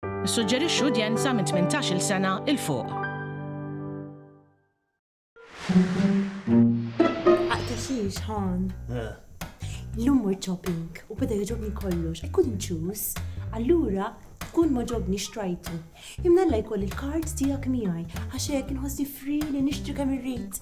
Nissuġġerixxu udjenza minn tmintax-il sena 'l fuq. Aqtaxix, Han. Illum mort shopping u beda jogħġobni kollox. I couldn't choose. Allura kull m'għoġobni xtrajtu. Imnalla jkolli l-card tiegħek miegħi għax hekk inħossni free li nixtri kemm irrid.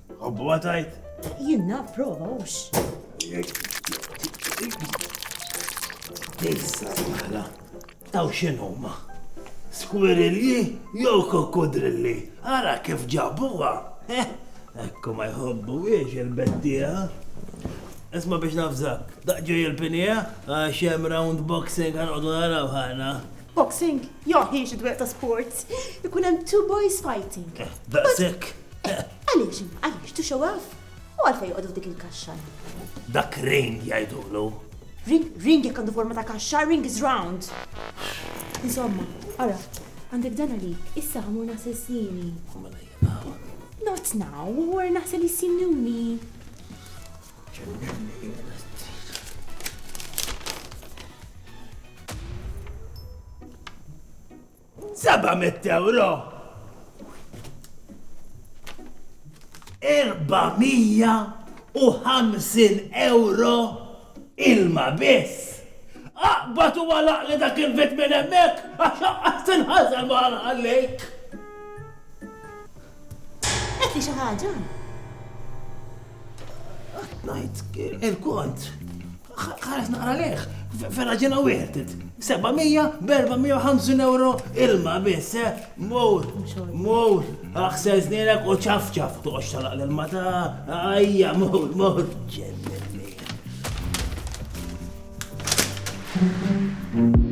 Hobbuha tajt? Jien naf prova hux. Tejsa maħla, taw x'inhuma? Skwirilli jew kokkudrilli, ara kif ġabuha. Eh, ekku ma jħobbu wiex il-bettija. Isma biex nafżak, daqġu jil-pinija, għax jem round boxing għan għodu naraw ħana. Boxing? Joħi xidweq ta' sports. Ikun hemm two boys fighting. Eh, daqsek, Għaliex imma, għaliex? To show off? U għalfejn joqogħdu f'dik il-kaxxa hemm? Dak ring jgħidulu. Ring, ring jekk għandu forma ta' kaxxa, ring is round. Insomma, ara, għandek dan għalik, issa ħa mmur naħsel snieni. U mela jiena hawn. Not now, u wara naħsel is-sinjuni. Ġenninni jiena 700 ewro! 450 ewro ilma biss! Aqbad u għalaq li dak il-bit minn hemmhekk għax għaqqas tinħażel ma ħallejk. Qed li xi ħaġa? Ngħid il-kont. Ħares naqra leħ, ferra ġena wieħed. 700 b'450 euro ilma biss, eh? Mur, mur, aħsel snilek u ċafċaf toqgħodx talaq l-ilma ta' ajja, mur, mur. Thank you.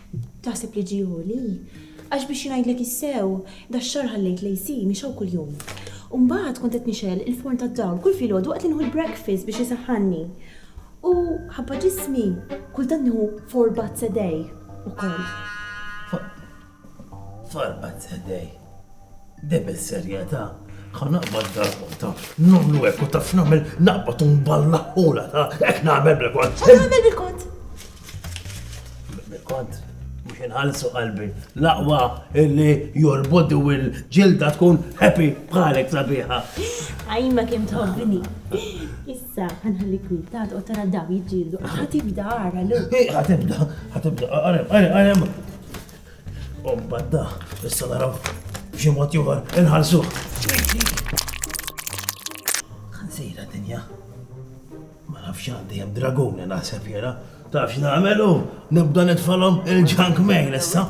Taħseb li ġie għoli? Għax biex ngħidlek is-sew, dax-xahar ħallejt l-AC mixgħu kuljum. U mbagħad kont qed nixgħel il-forn tad-dawl kull filgħodu waqt li nieħu l-breakfast biex isaħħanni. U ħabba ġismi, kultant nieħu four baths a day ukoll. Four baths a day? Dejjem bis-serjetà, ħa naqbad darb'oħra, nagħmlu hekk u taf nagħmel naqbad u nballaħħulha ta' hekk nagħmel bil-kont. X'qed tagħmel bil-kont? Bil-kont? Mhux inħallsu qalbi. L-aqwa illi your body u l-ġilda tkun happy bħalek sabiħa. Għajma kemm tħobbni. Issa, ħanħalli kwi, ta' u tara daw jiġġieldu. Ħatibda ara l Ħatibda, ħatibda, għarem, għarem, għarem. U mbagħad da, issa naraw b'xi mod ieħor inħallsu. Ħansira dinja. Ma nafx għandi hemm dragun li naħseb jiena. Tafx nagħmelu, nibda nitfalhom il-junk mail issa.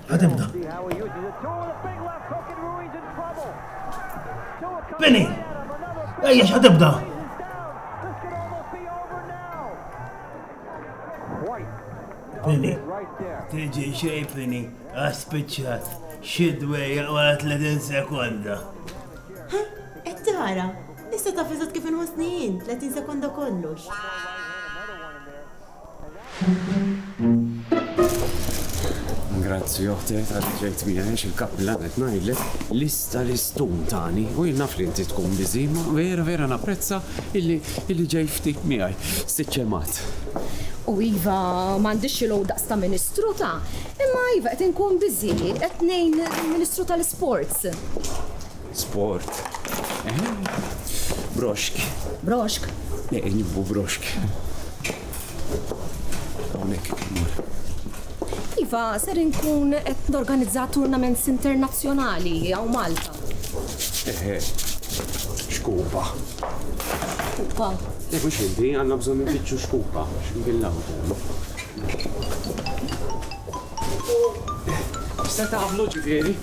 Ħatibda. Bini! Ejja x'ħatibda! Pini. Tiġi xej Pini, għaspiċċat, xidwejja wara 30 sekonda. Ha, qed tara, issa taf eżatt kif inħossni jien, 30 sekonda kollox. Grazzi, oħti, għaddi ġejt bija, għax il-kappilla għet najli, lista l-istun tani, u jinnaf li inti tkun bizima, vera, vera napprezza illi Illi ġej ftit miegħi, Sitt Ġemgħat. U iva, m'għandix xi logħob daqs ta' Ministru ta', imma iva qed inkun busy, qed ngħin lill-Ministru tal-Isports. Sport. Eħe. Broxk. Broxk? Eħe, nieħu broxk. Iva, ser inkun qed norganizza turnaments internazzjonali għaw Malta. Eħe, xkupa. Xkupa. Eħe, mux inti, għanna bżon nfittxu xkupa, xbillaw. Se taqblu ġifieri?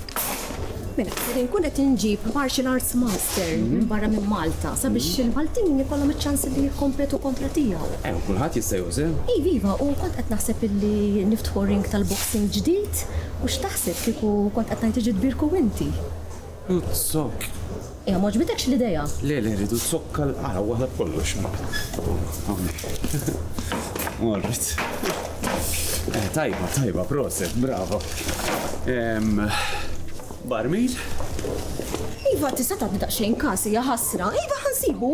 Mela, ser inkun qed inġib martial arts master mhm. minn barra minn Malta sabiex mhm. il-Maltin jkollhom iċ-ċans li jikkompetu kontra tiegħu. Eh, kulħadd jista' jużel. Iva, iva, u kont qed naħseb illi niftħu ring tal-boxing ġdid u x'taħseb kieku kont qed ngħid iġid birku inti. Uzzok. Ejja, m'għoġbitekx l-idea? Le, le, rridu zokka l-qara waħda b'kollox. Hawnhekk. Morret. Eh, tajba, tajba, proset, bravo. Barmil? Iva, tista' tagħti daqsxejn każ hija ħasra. Iva ħansibu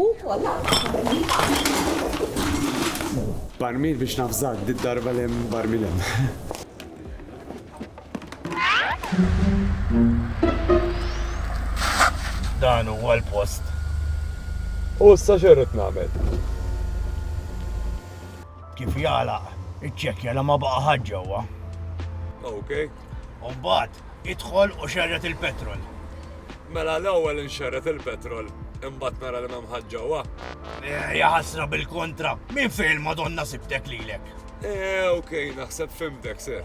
Barmil biex nafżak, did darba l-hemm barmil hemm. Dan huwa l-post. U issa xerrit nagħmel? Kif jala, iċċekkja la ma baqa' ħadd ġewwa. Ok. U mbagħad idħol u xerret il-petrol. Mela l-ewwel inxerret il-petrol imbagħad nara li m'hemm ħadd ġewwa. Eh, ja ħasra bil-kontra, minn fejn madonna sibtek lilek? Eh, ok, naħseb fimtek, sir.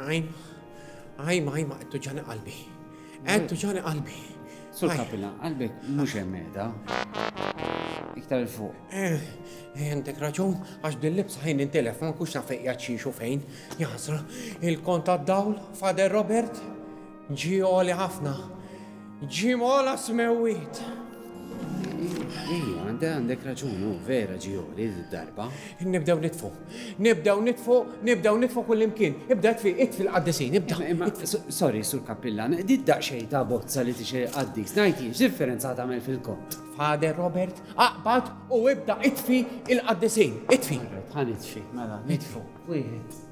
Ajma, ajma, ajma, qed tuġani qalbi. Qed tuġani qalbi. Sur kapina, qalbek mhux hemm qiegħda. Iktar il fuq. Eh, eh, għandek raġun, għax din libsa ħin intilef, ma nkunx naf fejn xiex u fejn. Jaħsra, il-kont għad-dawl, Fader Robert, Ġie għoli ħafna. Ġie mola smewwiet. Ejja, għandek għandek raġun, u vera ġie għoli darba. Nibdew nitfu. Nibdew nitfu, nibdew nitfu kull imkien. Ibda tfi, it fil-qaddisin, ibda. Imma, sorry, sur kappillan, dit daqxej ta' bozza li tixej qaddis, najti, differenza tagħmel fil-kont. Fader Robert, aqbad u ibda itfi il-qaddisin, itfi. Ħan itfi, mela, nitfu. Wieħed.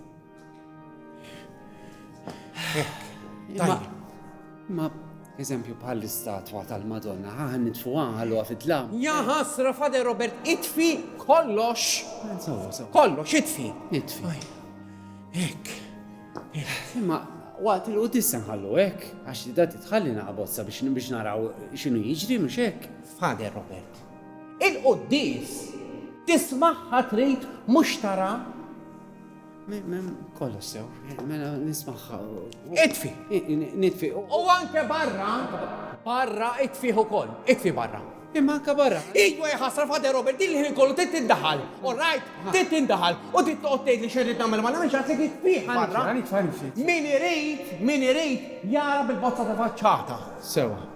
Ma, eżempju bħal istatwa tal-Madonna, ħaħan nitfu għalu għafitla. Ja ħasra, Fader Robert, itfi kollox. Kollox, itfi. Itfi. Ek. Imma, waqt il qudissa nħallu ek, għax li da titħalli naqbozza biex biex naraw xinu jiġri mux ek. Fader Robert, il-quddis tismaħħa trid mux tara Kollox sew, mela nismaħħa. Itfi! Nitfi. U anke barra, barra itfi ukoll, itfi barra. Imma anke barra. Iwa jħasra fade Robert, din li kollu tit tindaħal, all right? Tit tindaħal. U tit toqgħod tgħid li xerrid nagħmel ma nagħmilx għasek itfi barra. Min irid, min irid jara bil-bozza ta' faċċata. Sewa.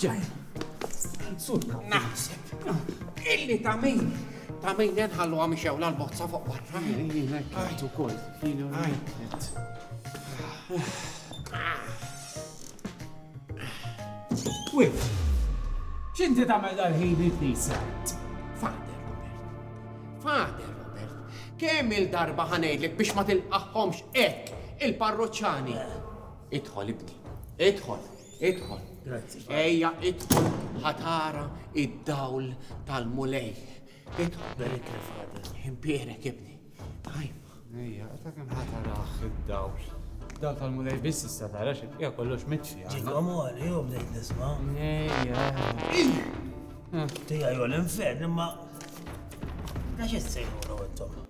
Ġej. Surka. Naħseb. Illi ta' min. Ta' min jenħallu għam xew l-bozza fuq barra. Jina kħajt u kol. Jina kħajt. Wif. Xinti ta' mel dal-ħin il-knisa? Fader, Robert. Fader, Robert. Kemm il-darba ħanejdlek biex ma tilqaħħomx ek il-parroċċani. Idħol ibni, idħol, idħol. Grazzi. Ejja idħol ħatara id-dawl tal-mulej. Idħol. Berik il-fader. Impierek ibni. Għajma. Ejja, ta' kem ħatara id-dawl. Dawl tal-mulej biss issa tara xi hija kollox mitxi. Ġikom għal jew bdejt nisma'. Ejja. Tija jew l-infern imma. Għax issejħu intom.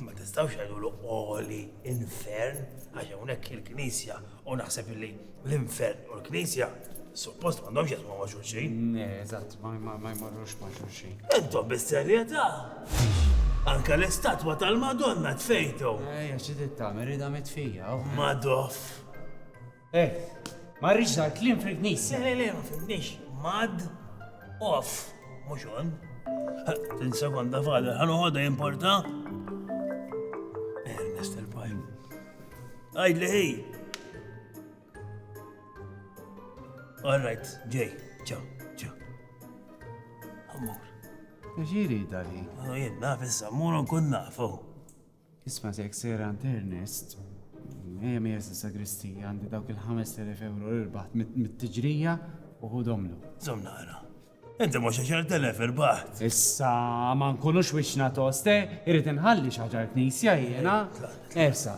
Ma tistgħux jgħidulu qoli infern għax hawnhekk il-Knisja u naħseb li l-infern u l-Knisja suppost m'għandhomx jaqsmu ma' xulxin. Eżatt, ma jmorrux ma' xulxin. Intom bis-serjetà. Anka l-istatwa tal-Madonna tfejtu. Ejja, xi trid tagħmel, ridha mitfija. Madoff. Eh, ma rridx dar kliem fil-knisja. Le, le, ma fimniex. Mad off, mhux on. Tin sekonda fadal, ħan uħodha importa? Ernest il-pajm. Għajd li ħej. All right, ġej, ċaw, ċaw. Għamur. Ġiri dali. Għajd, naf issa, mur nkun nafu. Isma' jekk sejr għand Ernest, ejja mija s-sagristija għandi dawk il-5000 euro li rbaħt mit-tiġrija u ħudhomlu. Żomm naqra. Inti mhux 10,000 irbaħt. Issa ma nkunux wixna toste, irrid inħalli xaġar knisja jiena. Esa.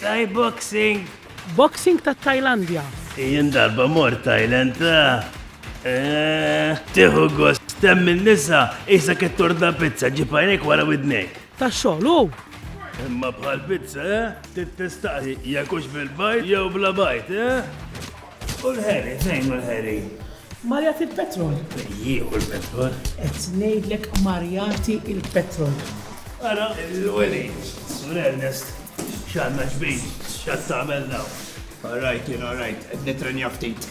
Thai boxing. Boxing tat-Tajlandja. Jien darba mort Thailand. Tieħu gost temm in-nisa isa kittorda pizza ġib għajnejk wara widnejk. Ta' xogħol hu. Imma bħal pizza, eh? Tittestaqi jekk hux bil-bajt jew bla bajt, eh? U l-ħeli, fejn hu l-ħeli? Mar jagħti l-petrol. Jieħu l-petrol. Qed ngħidlek mar jagħti l-petrol. Ara l-weli, Sur Ernest, x'għandna ġbin, x'għad tagħmel naw. All right, you know, right, qed nitrenja ftit.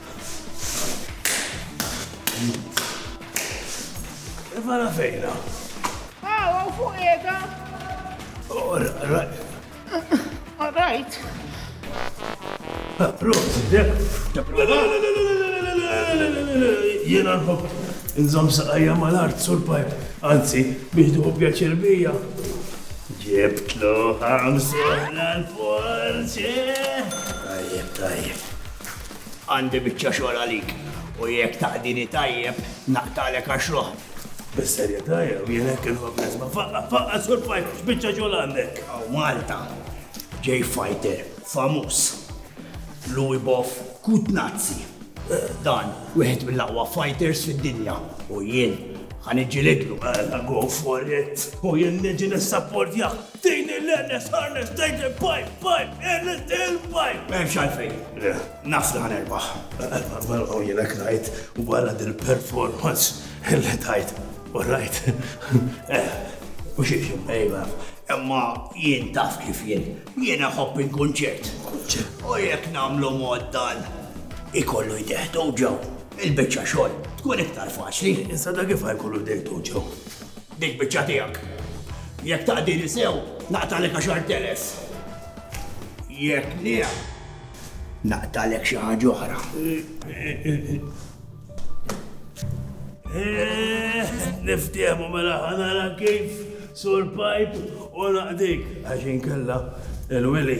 Mela fejna. Ah, għaw fuq jeda. Oh, Rajt. Prosi, dek. Jena nħob, nżom saqajja mal-art surpajp, anzi, biex duħu pjaċir bija. Ġibtlu ħamsu l-forzi. Tajjeb, tajjeb. Għandi biċċa xogħol għalik u jekk taħdini tajjeb naqtagħlek għax-xogħol. Bis-serjetà jew? Jien hekk inħobb nisma'. Faqqa', faqqa' Sur Fighter, x'biċċa xogħol għandek? Hawn Malta ġej fighter famuż, Louie Boff Kutnazzi. Dan wieħed mill-aqwa fighters fid-dinja u jien ħa niġġilidlu. Mela go for it! U jien niġi nissapportjah! Din hi l-earnest, harness, taken pipe, pipe, earnest hill pipe! M'hemmx għalfejn. Naf li ħa nerbaħ. Għaw jien hekk ngħid wara dil-performance li tajt. U rajt. U xi xi mejma. Imma jien taf kif jien. Jien ħobb il-kunċert. U jekk nagħmlu mod dan ikollu jdeħtu ġew. Il-biċċa xogħol tkun iktar faċli. Insada kif ħajkollu jdeħtu ġew. Dik biċċa tiegħek. Jekk taqdini sew, naqtagħlek għaxart telef. Jekk le, naqtagħlek xi ħaġa oħra. Niftiehmu mela ħanara kif sur pipe u naqdik għax inkella il-wili.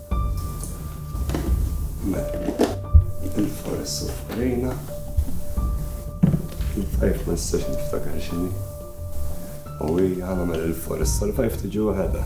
Il-forest of Arena. Il-fajf ma nistax niftakar xini. U hija għamel il-forest tal-fajf tiġi waħedha.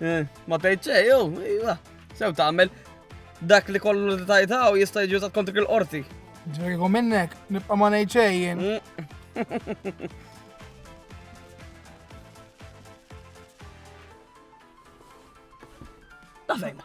Eh, ma tgħid xejn, jew, iva, sew tagħmel dak li kollu li tajtaw jista' jiġi użat kontrik il-qorti. Ġveriku minnek, nibqa' ma ngħid xejn jien. Mm. Dafejma.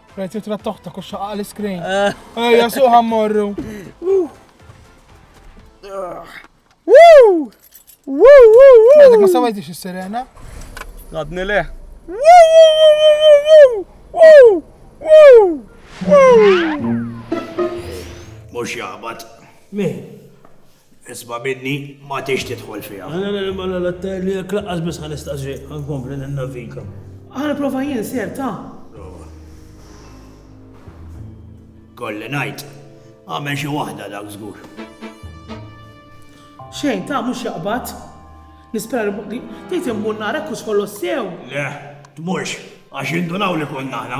Rajt jitra toħta kux xaqqa l-iskrin. Ejja, suħa morru. Woo! Woo! Woo! Ma sawajtix is-sirena? Għadni le. Woo! Woo! Woo! Woo! Mux jabat. Min? Isma' minni, ma tridx tidħol fiha. Jekk lanqas biss ħa nistaqs xejn, ħa nkompli ninnaviga. Ħa nipprova jien, Sir, ta. Prova. Kolli ngħid, għamel xi waħda dak żgur. Xejn, ta, mhux jaqbad. Nispera li tgħid immur nara hekk hux kollox sew. Le, tmurx, għax jindunaw li konna aħna.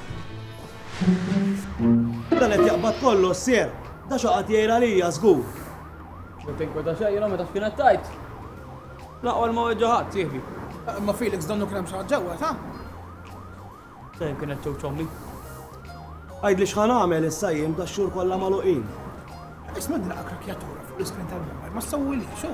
Dan qed jaqbad kollu s-sierq. Da x'ha qagħad jgħir għalija żgur. Jew tinkwieta xejn jiena meta x'kienet tgħid. L-aqwa li ma weġġa' ħadd, sieħbi. Imma Felix donnu kien hemm xi ħadd ġewwa, sa? Dejjem kienet ċewċ ommi. Għidli x'ħa nagħmel issa jien b'dax-xhur kollha magħluqin. Isma' din l-aqra kjatura fuq l-iskrin tal-mobile ma ssewwilix, hu.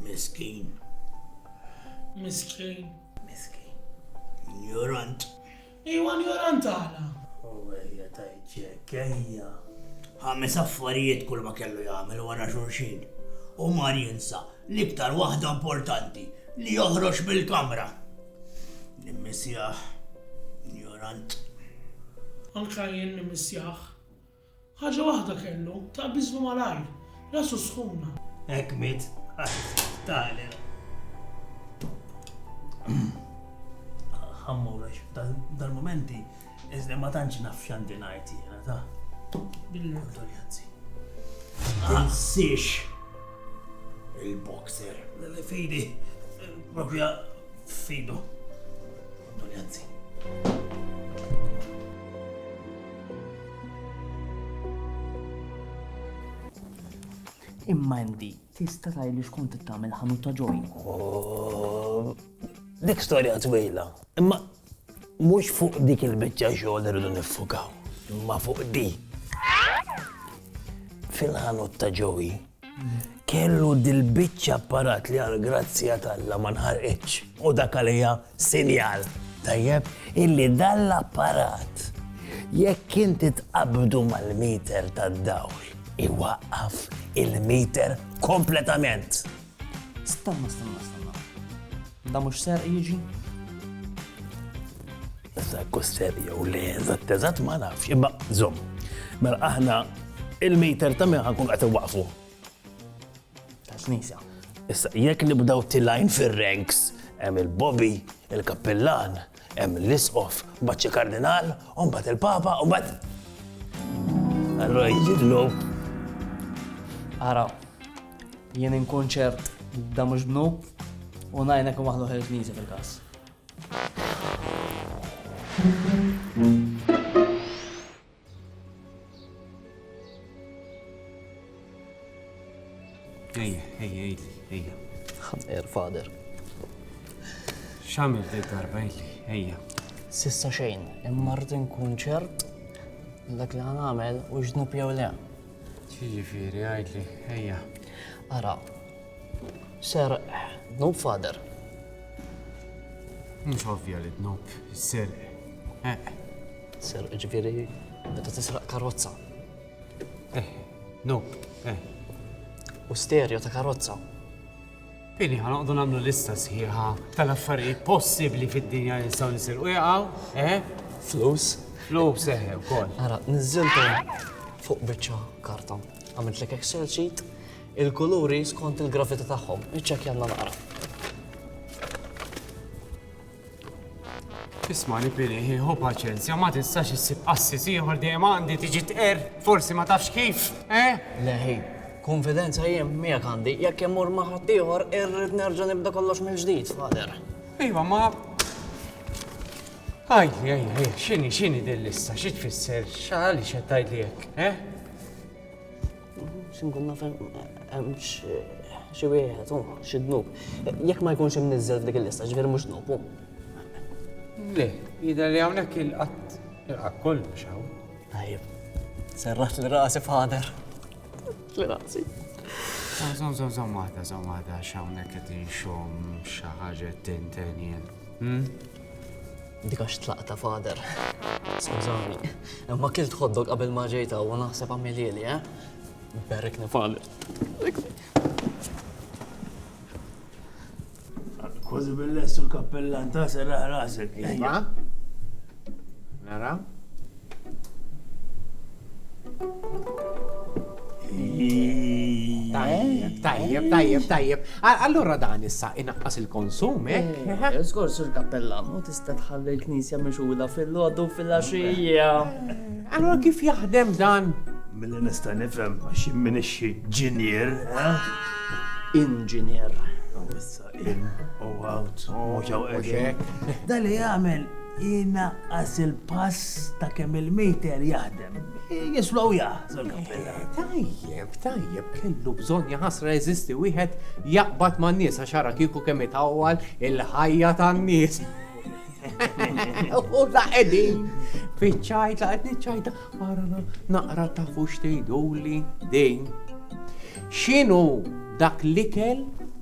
Miskin. Miskin. Miskin. Njorant. Iwa njorant għala. U għajja tajċek, għajja. Ħames affarijiet kull ma kellu jagħmel wara xulxin. U mar jinsa l-iktar waħda importanti li joħroġ mill-kamra. Nimmissjaħ, njorant. Anka jien nimmissjaħ. Ħaġa waħda kellu, ta' biżmu malajr, rasu sħuna. Hekk miet għal Tyler. Ħammurrex, dal-momenti, iżda ma tantx naf x'għandi ngħid jiena ta' bil-kondoljanzi. Insiex il-boxer. Fidi, propja fidu. Kondoljanzi. Imma Andy, tista' tgħidli x'kont tagħmel ħanut ta' ġojn. Oh, dik storja twila, imma mhux fuq dik il-biċċa xogħol irridu niffukaw, imma fuq di. Fil-ħanut ta' ġowi, Kellu dil-biċċa apparat li għall-grazzja t'Alla ma nħarqitx u dak għalija sinjal, tajjeb, illi dan l-apparat jekk inti tqabbdu mal-miter tad-dawl iwaqqaf il-miter kompletament. Stanna, stanna, stanna. Dan mhux serq jiġi? Issa jekk ser jew le eżatt eżatt ma nafx, imma żomm. Mela aħna il-meter ta' min ħankun qed waqfu. Ta' knisa. Issa jekk nibdaw tilajn fir-ranks hemm il-Bobby, il-Kappillan, hemm l-Isqof, mbagħad Kardinal, u mbagħad il-Papa, u mbagħad Allora jidlu. Ara, jien inkunċert da mhux bnu u najna kum aħlu ħerġniżi fil-każ. Ejja, ejja, ejja, ejja. Ħamqer, fader. Xamil dik darba ejli, ejja. Sissa xejn, imma rrid nkun ċert dak li għamel u ġnub jew le. Ġifieri għajdli, ejja. Ara, Serq, dnub fader. Mhux ovvja li dnub, serq. Eh. Serq ġifieri meta tisraq karozza. Eh, dnub, eh. U stereo ta' karozza. Pini ħanoqdu nagħmlu lista sħiħa tal-affarijiet possibbli fid-dinja li nistgħu nisirqu jaqgħu, eh? Flus. Flus, eh, ukoll. Ara, niżżiltu fuq biċċa karta. Għamilt lek Excel sheet Il-kuluri skont il-gravità tagħhom. Iċċekkjanna naqra. Ismani Pili, ħu paċenzja, ma tistax issib qassis ieħor dejjem għandi tiġi tqer, forsi ma tafx kif, eh? Leħi, konfidenza jien miegħek għandi, jekk immur ma' ħadd ieħor irrid nerġa' nibda kollox mill-ġdid, fader. Iva, ma Għaj, għaj, għaj, xini, xini dil-lista, xi tfisser, xali xe tajt li jekk, eh? Xinkun naf hemm xi wieħed u xi dnub. Jekk ma jkunx imniżżel f'dik il-lista, ġifieri mhux dnub hu. Le, jidher li hawnhekk il-qatt il-qatt kollu xaw. Tajjeb. Serraħt li rasi fader. Li rasi. Zom, zom, zom, waħda, zom, waħda, xawnek qed inxom xi ħaġa tintenjen. Dik għax tlaqta fader. Skużani, imma kilt ħoddok qabel ma ġejt hawn u naħseb għamilieli, eh? Berikni fader. Kważi bil-lessu l-kappellan ta' serraħ rasek. Nara? Tajjeb, tajjeb, tajjeb. Allura dan issa inaqqas il-konsum, eh? eh Skors il kappella u tista' tħalli l-knisja mixula fil-lodu fil-axija. Eh, allura kif jaħdem dan? Mill-li nista' nifhem għax minix ġinier, eh? Inġinier. In u out, mhux hawn qegħdin. Dan li jagħmel inaqqas il-pass ta' kemm il-meter jaħdem. Jislow jah, Sur Kappitan. Tajjeb, tajjeb, kellu bżonn jaħasra jeżisti wieħed jaqbad man-nies għax ara kieku kemm itawwal il-ħajja tan-nies. U la qegħdin fiċ-ċajta qed niċċajta ara naqra tafu x'tgħiduli din. X'inhu dak l-ikel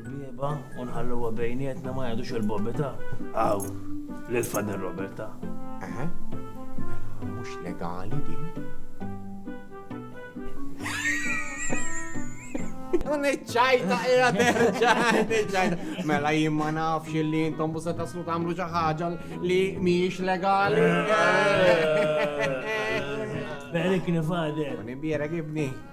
Bieba u nħalluha bejnietna ma jgħadux il-bobita. Aw, lil Fader Roberta. Eħe, mela mhux legali din. Un iċċajta, era terġa, iċċajta. Mela jien ma nafx li intom bu se taslu tagħmlu xi ħaġa li mhijiex legali. Berik nifader. Nibierek ibni.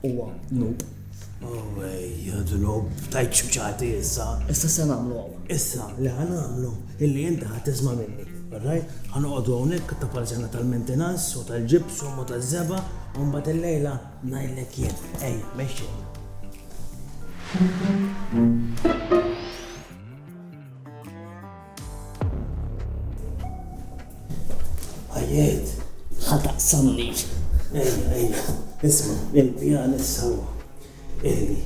Huwa nub. Ejja, dnub, tajt xbċati issa. Issa se nagħmlu hawn. Issa, li ħa nagħmlu, illi inti ħa tisma' minni. Rajt, ħa noqogħdu hawnhekk ta' parzjana tal-mentenanz u tal-ġibsum u taż-żeba, u mbagħad illejla ngħidlek jien. Ejja, mexxi. Għajiet, ħataqsamni. Ejja, ejja, isma, il-pjan issa huwa. Eli,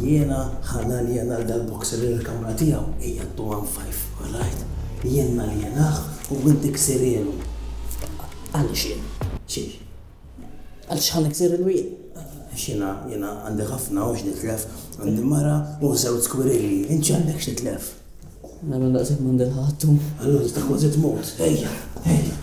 jiena ħana li jena dal-boxer il-kamra tiegħu hija d-duwan fajf, alright? Jiena li jenaħ u inti ksirielu. Għaliex jien? Xiex? Għaliex ħa niksir il-wegħid? Għax jiena, jiena għandi ħafna u x'nitlef. Għandi mara u żewġ skwirelli. Int x'għandek x'titlef? Mela daqshekk m'għandi l-ħadd u. Allura tista' kważi tmut. Ejja, ejja.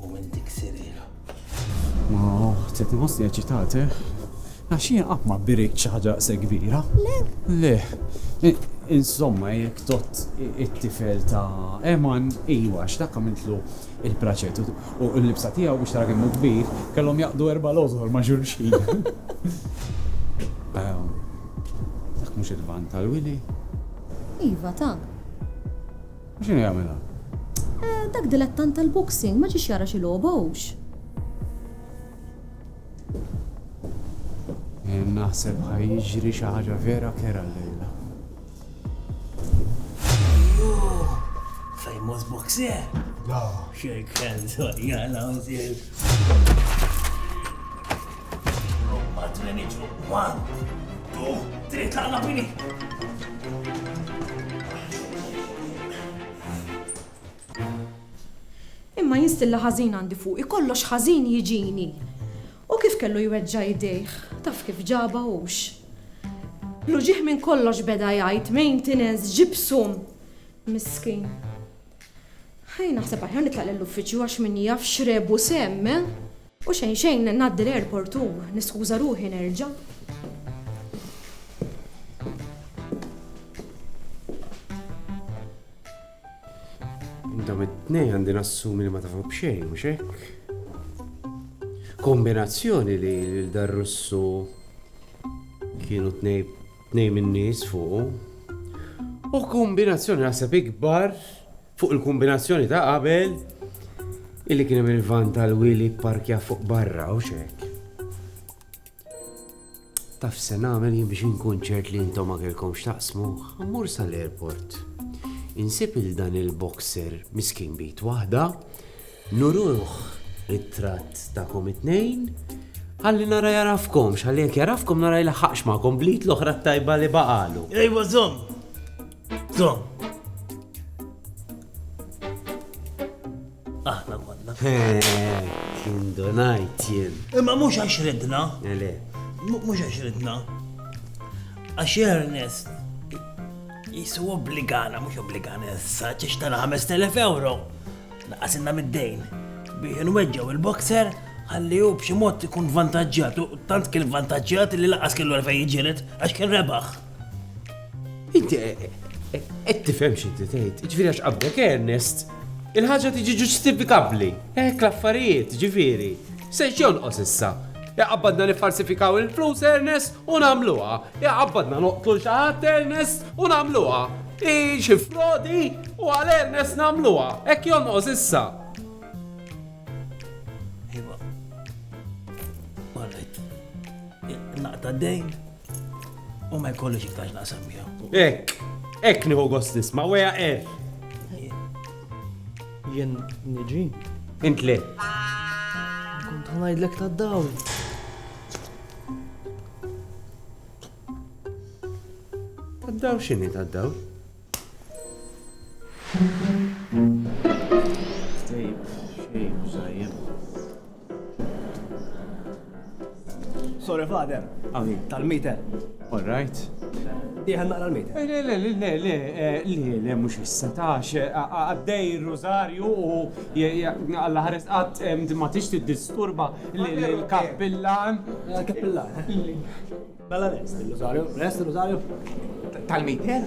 U minn dik sirira. Ma uħti tħossni eċitati. Għax jien qatt ma birikt xi ħaġa se kbira. Le. Le. Insomma, jekk tot it-tifel ta' Eman, iwa, x'dak għamiltlu il-praċet u l-libsa tiegħu biex tara kemm kbir, kellhom jaqdu erba' l-ożor ma' xulxin. Ehm, dak mhux il-van tal-wili. Iva ta'. U x'inhu jagħmel hawn? Eh, dak dilettant tal-boxing ma ġiex jara xi logħba hux. Eh, naħseb ħaj jiġri xi ħaġa vera kera llejla. Famous boxer? No. Shake hands, jgħala, Nobba t-treniċ fuq one, two, three, tlaqna bini! Imma jien stilla ħażin għandi fuqi, kollox ħażin jiġini. U kif kellu jweġġa' jdejh, taf kif ġabha hux. L-uġigħ minn kollox beda jgħid, maintenance, ġipsum. Miskin. Ħaj naħseb aħjar nitlaq lill-uffiċċju għax min jaf x'rebu semm, eh? U xejn xejn ngħaddi l-airport u niskuża ruħi nerġa'. Dawn it-tnejn għandi nassumi li ma tafu b'xejn, mhux hekk? Kombinazzjoni li lil dar Russu kienu tnejn tnejn min-nies fuq. U kombinazzjoni naħseb ikbar Fuq il-kombinazzjoni ta' qabel, illi kien hemm il-van tal-wili pparkja fuq barra u xek. Taf se nagħmel jien biex inkun ċert li intom ma kellkomx taqsmuh, mmur sal-airport. Insib il dan il-boxer miskin bit waħda, nuruh it-tratt tagħkom it-tnejn, ħalli nara jarafkom, x'għalli jekk jarafkom nara jlaħħaqx magħkom blit l-oħra tajba li baqalu. Ejwa żomm! Tom. Aħna konna. Kien donajt jien. Imma mhux għax ridna. Ele. Mhux għax ridna. Għax Ernest jisu obbligana, mhux obbligana issa, ċiex tana 5000 euro. Naqasinna mid-dejn. Biex nweġġew il-boxer għalli u b'xi mod ikun vantaġġjat, tant kien vantaġġjat li laqas kellu għalfej jġiret għax kien rebaħ. Inti eh, eh, qed tifhem xi tgħid, ġifieri għax qabbek Ernest, il-ħaġa tiġi ġustifikabbli. Hekk l-affarijiet, ġifieri. Se jonqos issa. Iqabbadna niffarsifikaw il-flus Ernest u nagħmluha. Iqabbadna noqtlu xi ħadd Ernest u nagħmluha. I xi frodi u għal Ernest nagħmluha. Hekk jonqos issa. Iva. Marret. Naqta' dejn. U ma jkollux iktar x'naqsam miegħu. Ek, ek nieħu gost nisma' weja er. Jien niġi. Int le. Kont ngħidlek tad-dawl. Tad-dawl x'inhi tad-dawl? Sorry, Father. Għawi. Tal-mite. All right. Diħan naqra l-mite. Eh, le, le, le, le, le, eh, le, le, mux issa tax, eh, għaddej il-rosarju u għalla ħares għat ma tix disturba l-kappillan. Kappillan. Mela lest il-Rosario, lest il-Rosario. Tal-Mikel?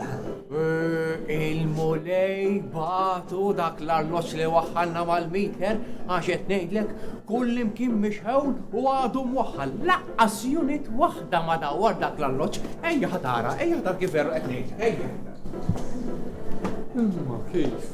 Il-mulej batu dak l-arloċ li waħħalna mal-miter, għax qed ngħidlek kull imkien mixħewl u għadu mwaħħal. Laqqas unit waħda ma dawar dak l-arloċ. Ejja ħatara, ejja ħatara kif verra qed ngħid. Ejja. Imma kif?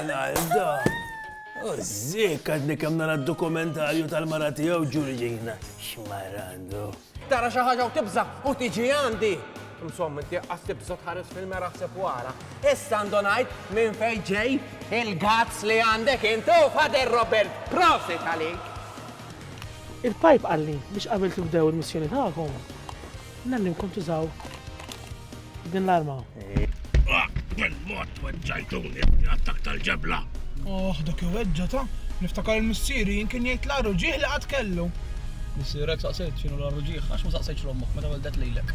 Ronaldo! U zik għadni kem nara dokumentarju tal-mara tijaw ġurġina. Xmarandu. Tara xaħġa u tibza u tiġi għandi. Insomma, inti għas tibza tħares fil-mera sepp wara. Issa ndonajt minn fejġej il-gazz li għandek intu fader Robert. Prosit għalik! Il-pajp għalli biex qabel tibdew il-missjoni tagħkom, Nemmilkom tużaw din l-arma. Bil-mod tweġġajtuni l-attak tal-ġebla. Oh, dak iweġġa ta' niftakar il-missieri jien kien jgħid l-għaru ġieħ li qatt kellu. Missierek saqsejt x'inhu l-għaru ġieħ għax ma saqsejtx l-ommok meta weldek lilek.